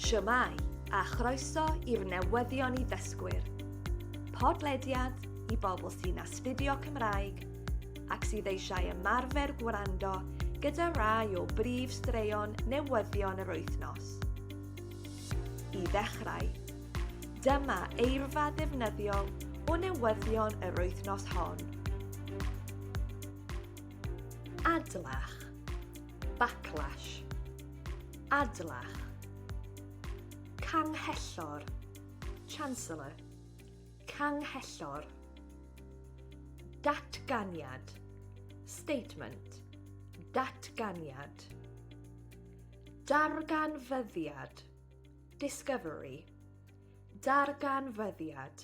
Shwmae, a chroeso i'r newyddion i ddysgwyr. Podlediad i bobl sy'n astudio Cymraeg ac sydd eisiau ymarfer gwrando gyda rai o brif straeon newyddion yr wythnos. I ddechrau, dyma eirfa ddefnyddiol o newyddion yr wythnos hon. Adlach. Backlash. Adlach. Canghellor. Chancellor. Canghellor. Datganiad. Statement. Datganiad. Darganfyddiad. Discovery. Darganfyddiad.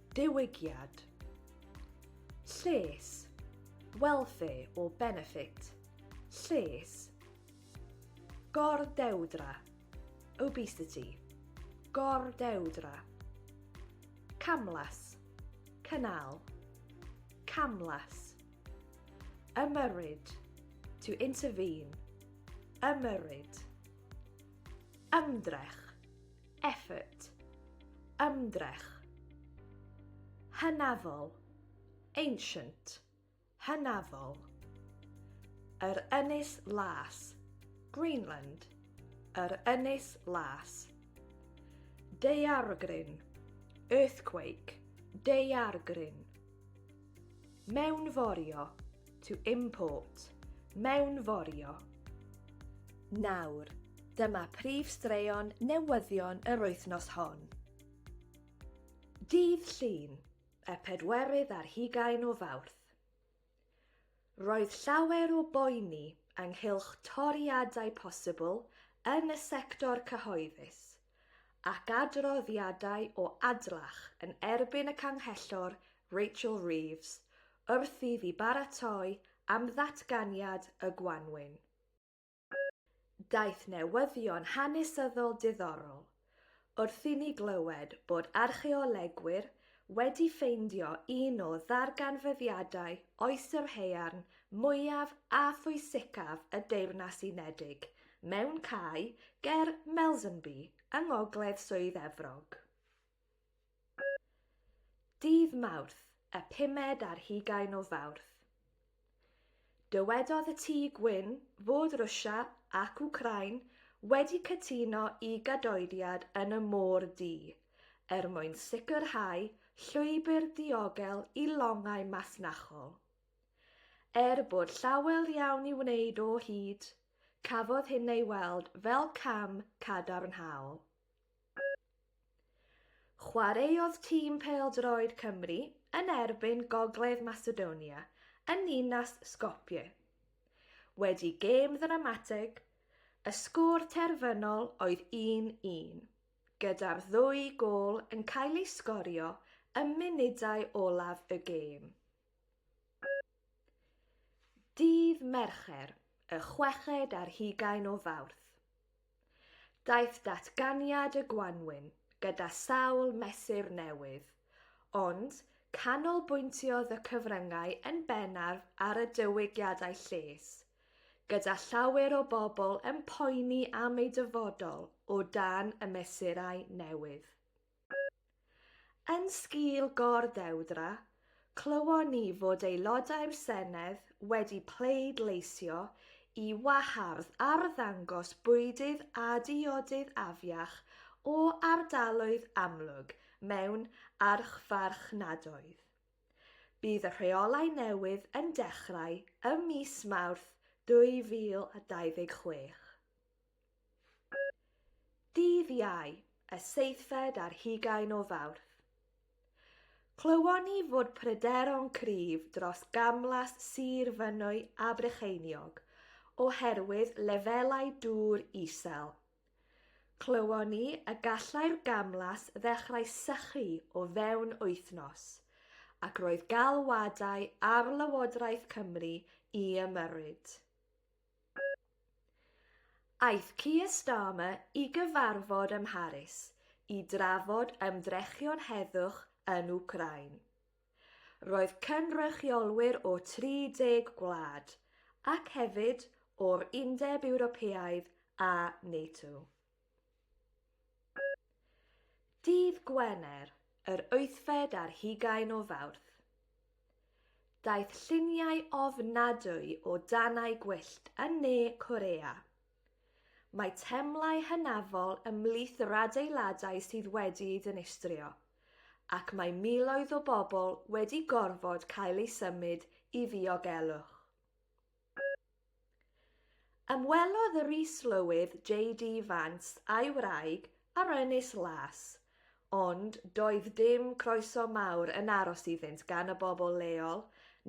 Diwygiad. Lles. Welfare or benefit. Lles. Gordewdra. Obesity. Gordewdra. Camlas. Canal. Camlas. Ymyrryd. To intervene. Ymyrryd. Ymdrech. effort, ymdrech, hynafol, ancient, hynafol, yr ynys las, Greenland, yr ynys las, daeargryn, earthquake, daeargryn, Mewnforio, to import, mewnforio. Nawr, dyma prif straeon newyddion yr wythnos hon. Dydd Llun, y pedwerydd ar hugain o Fawrth. Roedd llawer o boeni ynghylch toriadau posibl yn y sector cyhoeddus, ac adroddiadau o adlach yn erbyn y Canghellor Rachel Reeves wrth i fi baratoi am ddatganiad y gwanwyn. Daeth newyddion hanesyddol diddorol wrth i ni glywed bod archeolegwyr wedi ffeindio un o ddarganfyddiadau Oes yr Haearn mwyaf a phwysicaf y Deyrnas Unedig, mewn cae ger Melsonby, yng ngogledd Swydd Efrog. Dydd Mawrth, y pumed ar hugain o Fawrth. Dywedodd y Tŷ Gwyn fod Rwsia ac Wcráin wedi cytuno i gadoediad yn y Môr Du er mwyn sicrhau llwybr diogel i longau masnachol. Er bod llawer iawn i wneud o hyd, cafodd hyn ei weld fel cam cadarnhaol. Chwaraeodd tîm pêl-droed Cymru yn erbyn Gogledd Macedonia yn ninas Skopje. Wedi gêm ddramatig, y sgôr terfynol oedd 1-1, gyda'r ddwy gôl yn cael eu sgorio ym munudau olaf y gêm. Dydd Mercher, y chweched ar hugain o Fawrth. Daeth datganiad y gwanwyn gyda sawl mesur newydd, ond canolbwyntiodd y cyfryngau yn bennaf ar y diwygiadau lles, gyda llawer o bobl yn poeni am eu dyfodol o dan y mesurau newydd. Yn sgil gor-ddewdra, clywon ni fod Aelodau'r Senedd wedi pleidleisio i wahardd arddangos bwydydd a diodydd afiach o ardaloedd amlwg mewn archfarchnadoedd. Bydd y rheolau newydd yn dechrau ym mis Mawrth 2026. Dydd Iau, y seithfed ar hugain o Fawrth. Clywon ni fod pryderon cryf dros gamlas Sir Fynwy a Brycheiniog oherwydd lefelau dŵr isel. Clywon ni y gallai'r gamlas ddechrau sychu o fewn wythnos, ac roedd galwadau ar Lywodraeth Cymru i ymyrryd. Aeth Keir Starmer i gyfarfod ym Mharis i drafod ymdrechion heddwch yn Wcráin. Roedd cynrychiolwyr o 30 gwlad, ac hefyd o'r Undeb Ewropeaidd a NATO. Dydd Gwener, yr wythfed ar hugain o Fawrth. Daeth lluniau ofnadwy o danau gwyllt yn ne Corea. Mae temlau hynafol ymhlith yr adeiladau sydd wedi'i ddinistrio, ac mae miloedd o bobl wedi gorfod cael eu symud i ddiogelwch. Ymwelodd yr is-lywydd JD Vance a'i wraig ar Ynys Las, ond doedd dim croeso mawr yn aros iddynt gan y bobl leol,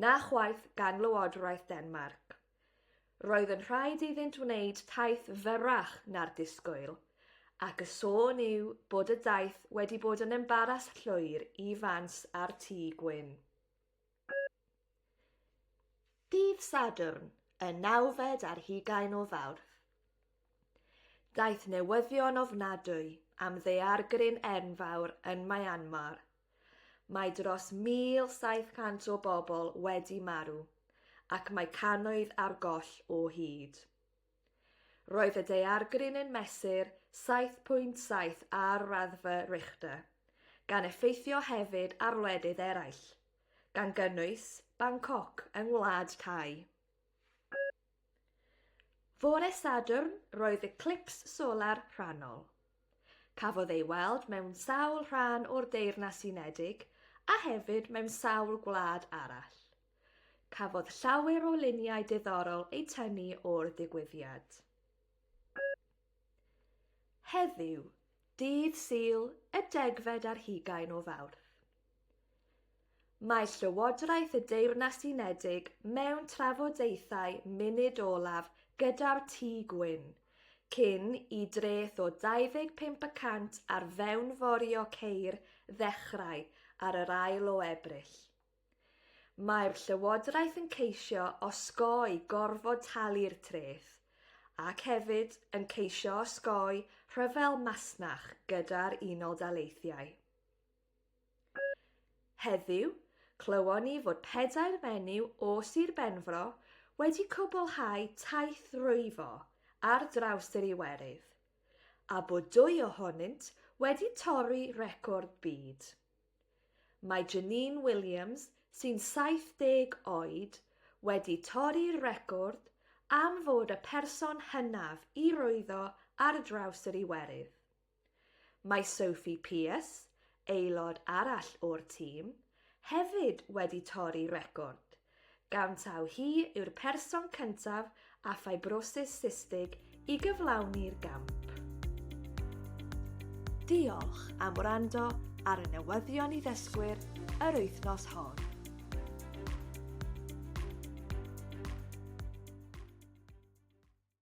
na chwaith gan Lywodraeth Denmarc. Roedd yn rhaid iddynt wneud taith fyrrach na'r disgwyl, ac y sôn yw bod y daith wedi bod yn embaras llwyr i Vance a'r Tŷ Gwyn. Dydd Sadwrn, y nawfed ar hugain o Fawrth. Daeth newyddion ofnadwy am ddeargryn enfawr yn Myanmar. Mae dros 1,700 o bobl wedi marw ac mae cannoedd ar goll o hyd. Roedd y daeargryn yn mesur 7.7 ar raddfa Richter, gan effeithio hefyd ar wledydd eraill, gan gynnwys Bangkok yng ngwlad Thai. Fore Sadwrn roedd eclips solar rhannol. Cafodd ei weld mewn sawl rhan o'r Deyrnas Unedig a hefyd mewn sawl gwlad arall. Cafodd llawer o luniau diddorol eu tynnu o'r ddigwyddiad. Heddiw, dydd Sul, y degfed ar hugain o Fawrth. Mae Llywodraeth y Deyrnas Unedig mewn trafodaethau munud olaf gyda'r Tŷ Gwyn, cyn i dreth o 25 y cant ar fewnforio ceir ddechrau ar yr ail o Ebrill. Mae'r Llywodraeth yn ceisio osgoi gorfod talu'r treth, ac hefyd yn ceisio osgoi rhyfel masnach gyda'r Unol Daleithiau. Heddiw, clywon ni fod pedair fenyw o Sir Benfro wedi cwblhau taith rwyfo ar draws yr Iwerydd, a bod dwy ohonynt wedi torri record byd. Mae Janine Williams, sy'n 70 oed, wedi torri'r record am fod y person hynaf i rwyddo ar draws yr Iwerydd. Mae Sophie Pearce, aelod arall o'r tîm, hefyd wedi torri record, gan taw hi yw'r person cyntaf â ffibrosis systig i gyflawni'r gamp. Diolch am wrando ar y newyddion i ddysgwyr yr wythnos hon.